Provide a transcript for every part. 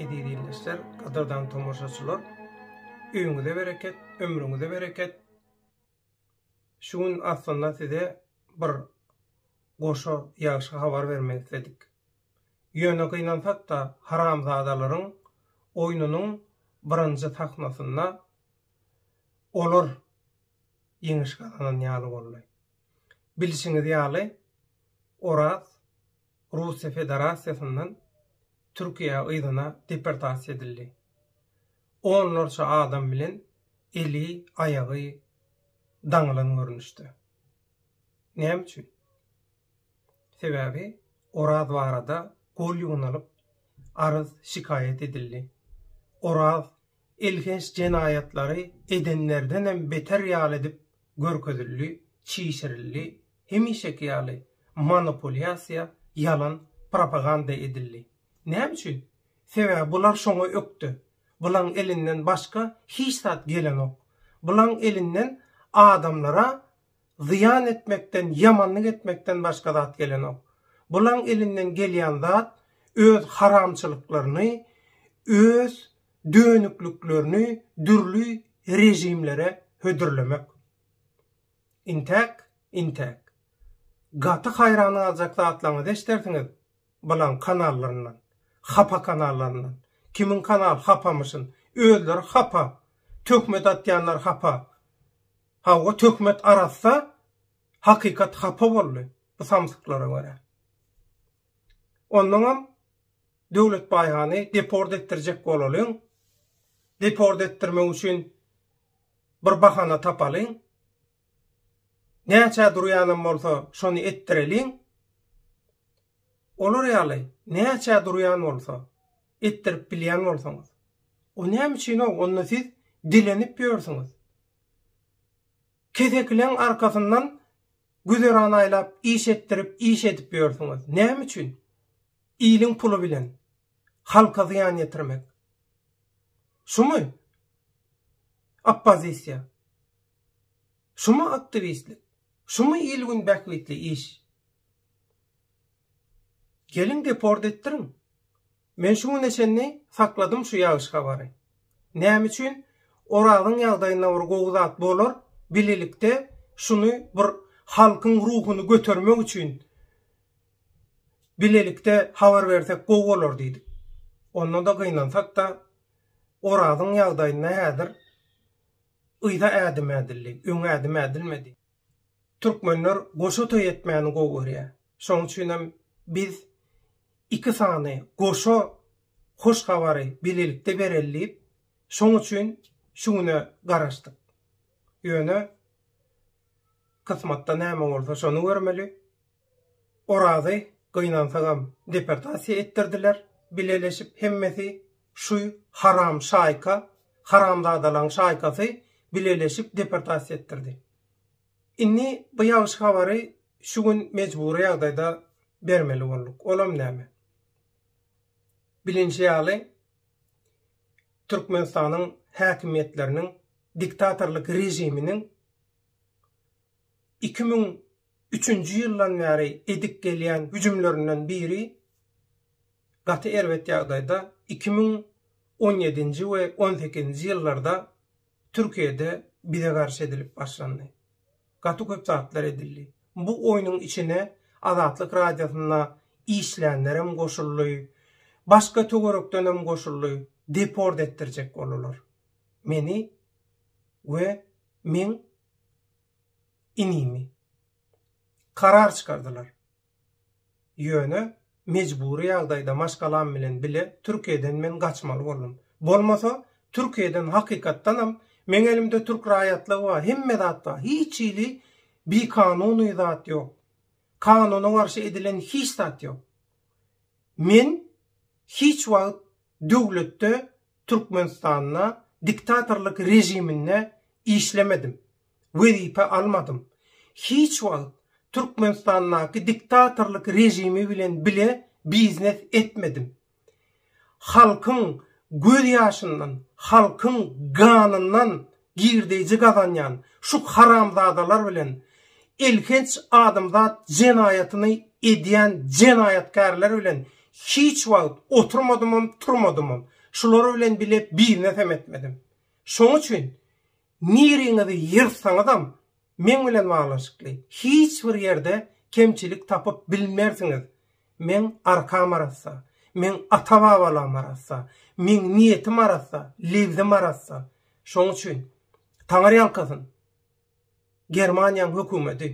Eziz ildeşler, gadyrdan tomaşaçylar, öýüňize bereket, ömrüňize bereket. Şu gün aslynda size bir goşa ýagşy habar bermek isledik. Ýöne gynansak-da, haramzadalaryň oýnunyň birinji sahnasynda olar ýeňiş gazanan ýaly boldy. Bilşiňiz ýaly, Oraz Russiýa Federasiýasyndan Türkiýä yzyna deportasiýa edildi. Onlarça adam bilen eli, aýagy daňylan görnüşde. Näme üçin? Sebäbi Oraz barada gol ýugnalyp arz şikaýat edildi. Oraz elhenç jenaýatlary edenlerdenem beter ýaly edip görkezildi, çişirildi, hemişeki ýaly manopulýasiýa, ýalan propaganda edildi. Näme üçin? Sebäbi bular şoňa ökde. Bulaň elinden başga hiç zat gelenok. Bulaň elinden adamlara zyýan etmekden, ýamanlyk etmekden başga zat gelenok. Bulaň elinden gelýän zat öz haramçylyklaryny, öz dönükliklerini dürli režimlere hödürlemek. Intäk, intäk. Gaty haýran galjak zatlaryňyzy eşdersiňiz bulaň kanallaryndan, hapa kanallaryndan. Kimiň kanal hapamyşyn, özleri hapa, töhmet atýanlar hapa. Hawa, töhmet arassa, hakykat hapa boldy bu samsyklara görä. Onnoňam Döwletbaýhany deport etdirjek bolalyň. Deport etdirmek üçin bir bahana tapalyň. Näçä durýanam bolsa şony etdireliň. Olar ýaly näçä durýan bolsa etdirip bilýän bolsaňyz. O näme üçin o onda siz dilenip ýörsüňiz. Kesekileň arkasyndan güzeran aýlap iş etdirip iş edip ýörsüňiz. Näme üçin? Iliň puly bilen halka zyýan ýetirmek. Şumy oppozisiýa? Şumy aktiwistlik? Şumy il-gün bähbitli iş? Geliň deport etdiriň. Men şu güne çenli sakladym şu ýagşy habary. Näme üçin Orazyň ýagdaýynda bir gowy zat bolar, bilelikde şuny bir halkyň ruhuny götermek üçin Bilelikde habar bersek gowy bolar diýdik. Onda-da gynansak-da, Orazyň ýagdaýynda häzir yza ädim ädildi, öňe ädim ädilmedi. Türkmenler goşa toý etmäni gowy görýär. Şonuň üçin hem biz iki sany goşa hoş habary bilelikde bereli diýip, şonuň üçin şu güne garaşdyk. Ýöne kysmatda näme bolsa, şony görmeli. Orazy gynansagam deportasiýa etdirdiler, bileleşip hemmesi şu haram şaýka, haramzadalaň şaýkasy bileleşip deportasiýa etdirdi. Indi bu ýagşy habary şu gün mejbury ýagdaýda bermeli bolduk. Olam näme? Bilinşi ýaly Türkmenistanyň häkimiýetleriniň diktatorlyk režiminiň 2000 Üçünji ýyldan bäri edip gelýän hüjümlerinden biri gaty erbet ýagdaýda iki müň on ýedinji we on sekizinji ýyllarda Türkiýede bize garşy edilip başlandy. Gaty köp zatlar edildi. Bu oýnuň içine Azatlyk Radiosynda işlänlerem goşuldy, başga töwerekdenem goşuldy, deport etdirjek boldular meni we meň inimi karar çykardylar. Ýöne mejbury ýagdaýda maşgalam bilen bile Türkiýeden men gaçmaly boldum. Bolmasa, Türkiýeden hakykatdanam meň elimde türk raýatlygy bar, hemme zat bar, hiç hili bikanuny zat ýok. Kanuna garşy edilen hiç zat ýok. Men hiç wagt döwletde Türkmenistanda diktatorlyk režiminde işlemedim, wezipe almadym, hiç wagt Türkmenistandaky diktatorlyk režimi bilen bile biznes etmedim. Halkyň göz ýaşyndan, halkyň ganyndan Girdeýji gazanýan şu haramzadalar bilen elhenç adamzat jenaýatyny edýän jenaýatkärler bilen hiç wagt oturmadymam, turmadymam. Şular bilen bile biznes hem etmedim. Şoň üçin niriňizi ýyrsaňyzam meň bilen baglanyşykly hiç bir ýerde kemçilik tapyp bilmersiňiz. Meň arkam arassa, meň ata-babalygym arassa, meň niýetim arassa, lebzim arassa. Şoň üçin, Taňry ýalkasyn, Germaniýaň hökümeti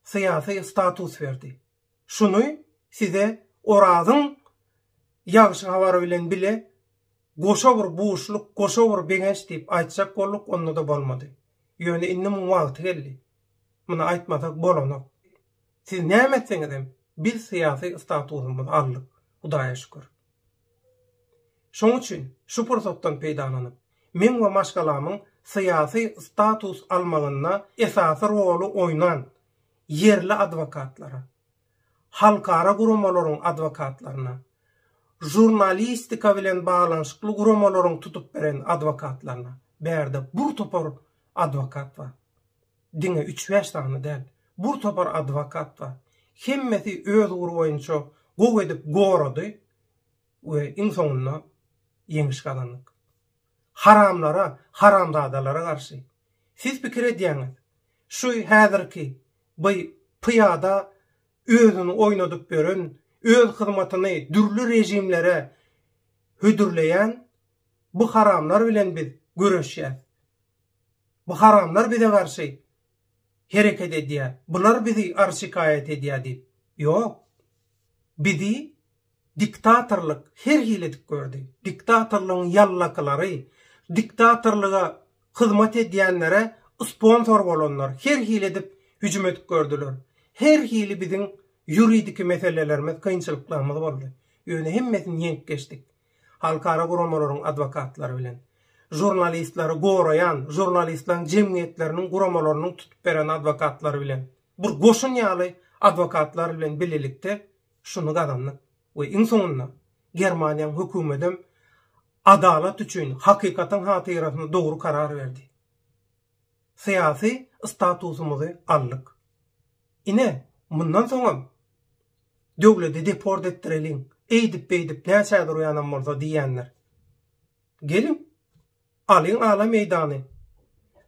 syýasy status berdi. Şuny size Orazyň ýagşy habary bilen bile goşa bir buşluk, goşa bir begenç diýip aýtjak bolduk, onda-da bolmady. Ýöne indi muň wagty geldi. Muny aýtmasak bolanok. Siz näme etseňizem biz syýasy statusymyzy aldyk, Hudaýa şükür. Şoň üçin şu pursatdan peýdalanyp, meň we maşgalamyň syýasy status almagynda esasy roly oýnan ýerli adwokatlara, halkara guramalaryň adwokatlaryna, žurnalistika bilen baglanyşykly guramalaryň tutup beren adwokatlaryna, bärde bur topar adwokat bar. Diňe üç-bäş sany däl, bur topar adwokat bar. Hemmesi öz ugry boýunça gowy edip gorady we iň soňunda ýeňiş gazandyk. Haramlara, haramzadalara garşy. Siz pikir edýäňiz, şu häzirki by pyýada özüni oýnadyp ýören, öz hyzmatyny dürli režimlere hödürleýän bu haramlar bilen biz göreşýäs. Bu haramlar bize garşy hereket edýär, bular bizi arz-şikaýat edýär diýip. Ýok. Bizi diktatorlyk her hili dik gördi. Diktatorlygyň ýallakylary, diktatorlyga hyzmat edýänlere sponsor bolanlar her hili edip hüjüm edip gördüler. Her hili biziň ýuridiki meselelerimiz, kynçylyklarymyz boldy. Ýöne hemmesini ýeňip geçdik. halkara guramalaryň adwokatlary bilen, žurnalistleri goraýan, žurnalistleriň jemgyýetleriniň guramalarynyň tutup beren adwokatlary bilen, bir goşun ýaly adwokatlar bilen bilelikde şuny gazandyk we iň soňunda Germaniýaň hökümetem adalat üçin, hakykatyň hatyrasyna dogry karar berdi. Syýasy statusymyzy aldyk. Ine, mundan soňam Döwledi deport etdireliň, eýdip-beýdip näçä durýanam bolsa diýendir. Geliň, alyň ala meýdany.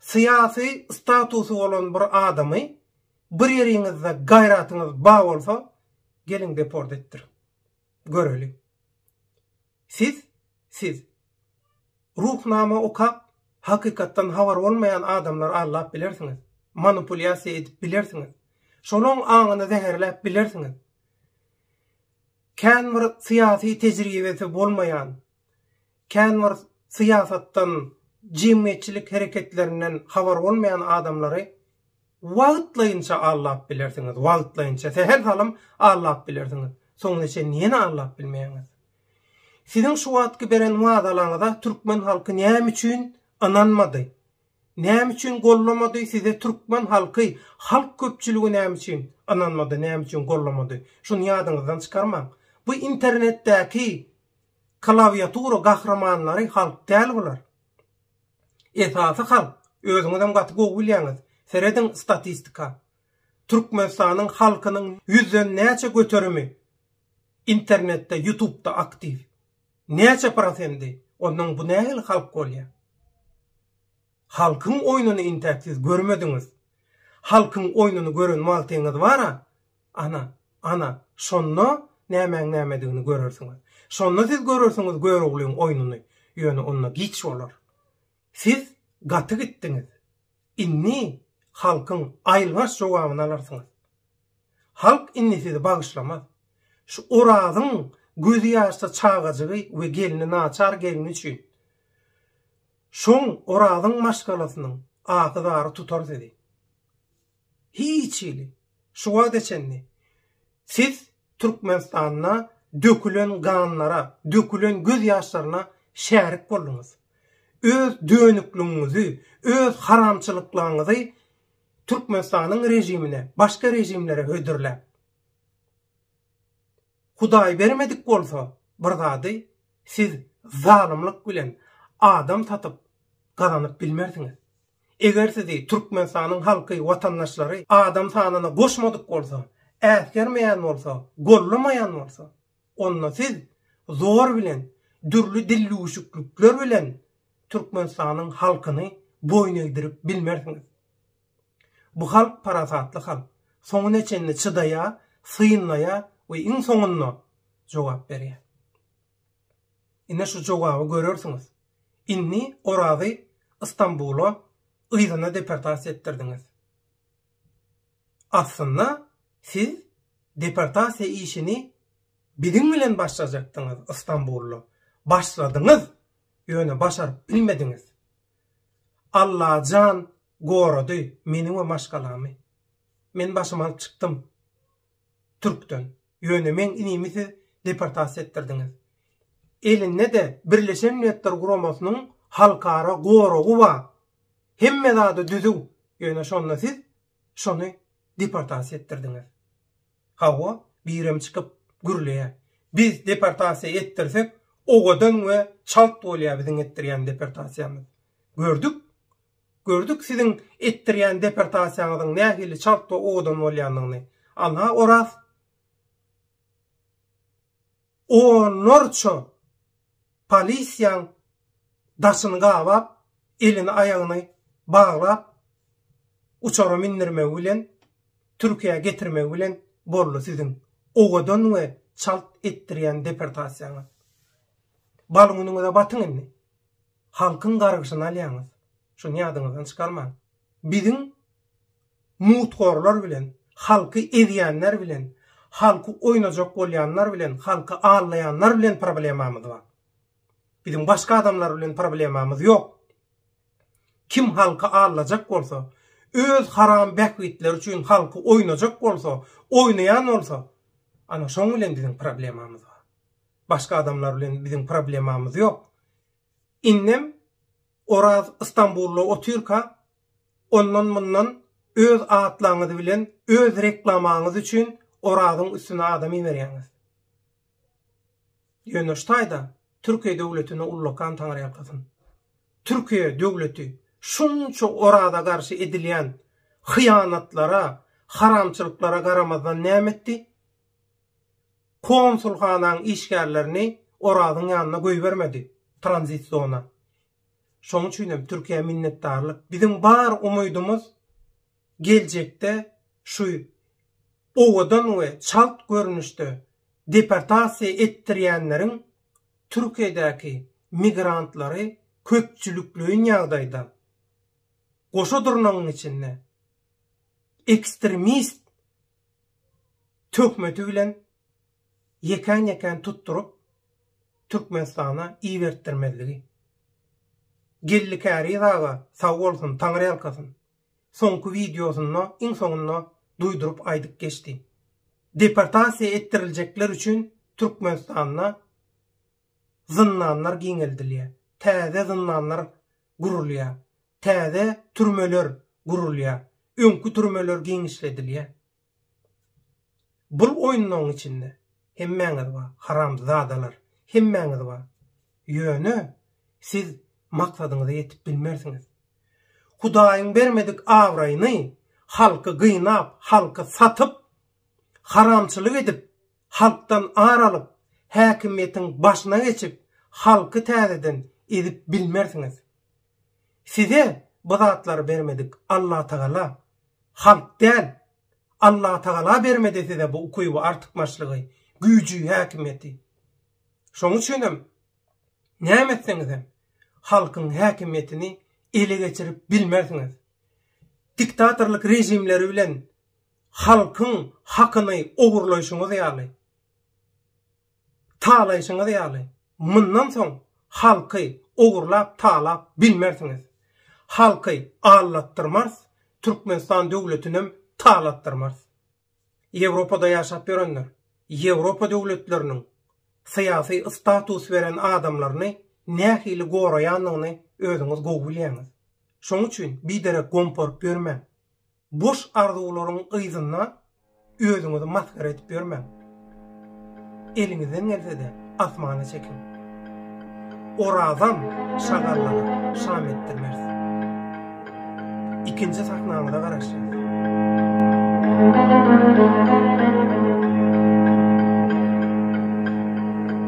Syýasy statusy bolan bir adamy bir ýeriňizde gaýratyňyz ba bolsa, geliň deport etdiriň. Göreliň. Siz, siz. Ruhnama okap, hakykatdan habary bolmaýan adamlary aldap bilersiňiz, manipulýasiýa edip bilersiňiz, şolaň aňyny zäherläp bilersiňiz. Kän bir syýasy tejribesi bolmaýan, kän bir syýasatdan, jemgyýetçilik hereketlerinden habary bolmaýan adamlary, Wagtlaýynça allap bilersiňiz, wagtlaýynça, sähel salym allap bilersiňiz, soňuna çenli ýene allap bilmeýäňiz. Siziň şu wagtky beren wadalaňyza türkmen halky näme üçin ynanmady? Näme üçin gollamady size türkmen halky, halk köpçüligi näme üçin ynanmady, näme üçin gollamady? Şuny ýadyňyzdan çykarmaň. Bu internetdäki klawiatura gahrymanlary halk däl bular. Esasy halk özüňizem gaty gowy bilýäňiz, serediň statistika. Türkmenistanyň halkynyň ýüzden näçe göterimi internetde, ýutubda aktiw? Näçe prosendi? Onnoň bu nähili halk bolýar? Halkyň oýnuny intäk siz görmediňiz. Halkyň oýnuny gören wagtyňyz bara, Ana, ana, şonda nämäň nämedigini görersiňiz. Şonda siz görersiňiz Göroglyň oýnuny. Ýöne onda giç bolar. Siz gaty gitdiňiz. Indi halkyň aýylganç jogabyny alarsyňyz. Halk indi sizi bagyşlamaz. Şu Orazyň gözi ýaşda çagajygy we gelni naçar gelni üçin. Şoň Orazyň maşgalasynyň ahy-zary tutar sizi. Hiç hili. Şu wagta çenli siz Türkmenistanda dökülen ganlara, dökülen göz ýaşlaryna şärik bolduňyz. Öz dönükligiňizi, öz haramçylyklaryňyzy Türkmenistanyň režimine, başga režimlere hödürläp. Hudaý bermedik bolsa bir zady siz zalymlyk bilen adam satyp gazanyp bilmersiňiz. Eger sizi Türkmenistanyň halky, watandaşlary adam sanyna goşmadyk bolsa, äsgermeýän bolsa, gollamaýan bolsa, onda siz zor bilen, dürli dillüwüşiklikler bilen Türkmenistanyň halkyny boýun egdirip bilmersiňiz. Bu halk parasatly halk, soňuna çenli çydaýar, synlaýar we iň soňunda jogap berýär. Ine şu jogaby görersiňiz. Indi Orazy Istanbula yzyna deportasiýa etdirdiňiz. Aslynda siz deportasiýa işini biziň bilen başlajakdyňyz Istanbulda. Başladyňyz, ýöne başaryp bilmediňiz. Allajan Gorady meni we maşgalamy. Men başymy alyp çykdym. Türkden. Ýöne meň inimi siz deportasiýa etdirdiňiz. Elinde-de Birleşen Milletler Guramasynyň halkara goragy bar. Hemme zady düzüw. Ýöne şonda siz şony deportasiýa etdirdiňiz. Hawa, birem çykyp gürleýär. Biz deportasiýa etdirsek, owadan we çalt bolýar biziň etdirýän deportasiýamyz. Gördük? Gördük siziň etdirýän deportasiýaňyzyň nähili çalt we owadan bolýanyny. Alha Oraz onlarça polisiýaň daşyny gabap, elini aýagyny baglap uçara mindirmegi bilen Türkiýä getirmegi bilen boldy siziň owadan we çalt etdirýän deportasiýaňyz. Bal günüňize batyň indi. Halkyň gargyşyny alýaňyz. Şuny ýadyňyzdan çykarmaň. Biziň muthorlar bilen, halky ezýänler bilen, halky oýnajak bolýanlar bilen, halky aldaýanlar bilen problemamyz bar. Biziň başga adamlar bilen problemamyz ýok. Kim halky aldajak bolsa, öz haram bähbitleri üçin halky oýnajak bolsa, oýnaýan bolsa, ana şoň bilen biziň problemamyz bar. Başga adamlar bilen biziň problemamyz ýok. Indem Oraz Istanbulda otyrka, ondan-mundan öz atlaňyz bilen öz reklamaňyz üçin Orazyň üstüne adam iberýäňiz. Ýöne şu taýda Türkiýe döwletine ullakan taňryýalkasyn. Türkiýe döwleti şunça Oraza garşy edilýän hyýanatlara, haramçylyklara garamazdan näme etdi? Konsulhanaň işgärlerini Orazyň ýanyna goýbermedi, tranzit zona. Şoň üçin hem Türkiýä minnetdarlyk. Biziň bar umydymyz geljekde şu owadan we çalt görnüşde deportasiýa etdirýänleriň Türkiýedäki migrantlary köpçülikleýin ýagdaýda, goşa durnagyň içinde, ekstremist, töhmeti bilen ýekän-ýekän tutduryp Türkmenistana ibertdirmezligi. Geldi Käriz aga sag bolsun, taňryýalkasyn, soňky wideosynda iň soňunda duýduryp aýdyp geçdi. Deportasiýa etdiriljekler üçin Türkmenistanda zyndanlar giňeldilýär, täze zyndanlar gurulýar, Täze türmeler gurulýar, öňki türmeler giňişledilýär. Bul oýunlaryň içinde hemmäňiz bar, haramzadalar, hemmäňiz bar. Ýöne siz maksadyňyza ýetip bilmersiňiz. Hudaýyň bermedik abraýyny halky gynap, halky satyp, haramçylyk edip, halkdan ar alyp, häkimiýetiň başyna geçip, halky täzeden ezip bilmersiňiz. Size bu zatlary bermedik Allatagala, halk däl. Allatagala bermedi size bu ukyby, artykmaçlygy, güýji, häkimiýeti. Şoň üçinem, näme etseňizem, halkyň häkimiýetini ele geçirip bilmersiňiz. Diktatorlyk režimleri bilen Halkyň hakyny ogurlaýşyňyz ýaly, talaýşyňyz ýaly, mundan soň halky ogurlap, talap bilmersiňiz. Halky aldatdyrmarys, Türkmenistan döwletinem talatdyrmarys. Ýewropada ýaşap ýörenler, Ýewropa döwletleriniň syýasy status beren adamlaryny nähili goraýandygyny özüňiz gowy bilýäňiz. Şonuň üçin biderek gomporup ýörmäň. Boş arzuwlaryň yzynda özüňizi masgara edip ýörmäň. Eliňizden gelse-de, asmana çekiň. Orazam şagallara şam etdirmeris. Ikinji sahnamyza garaşýas.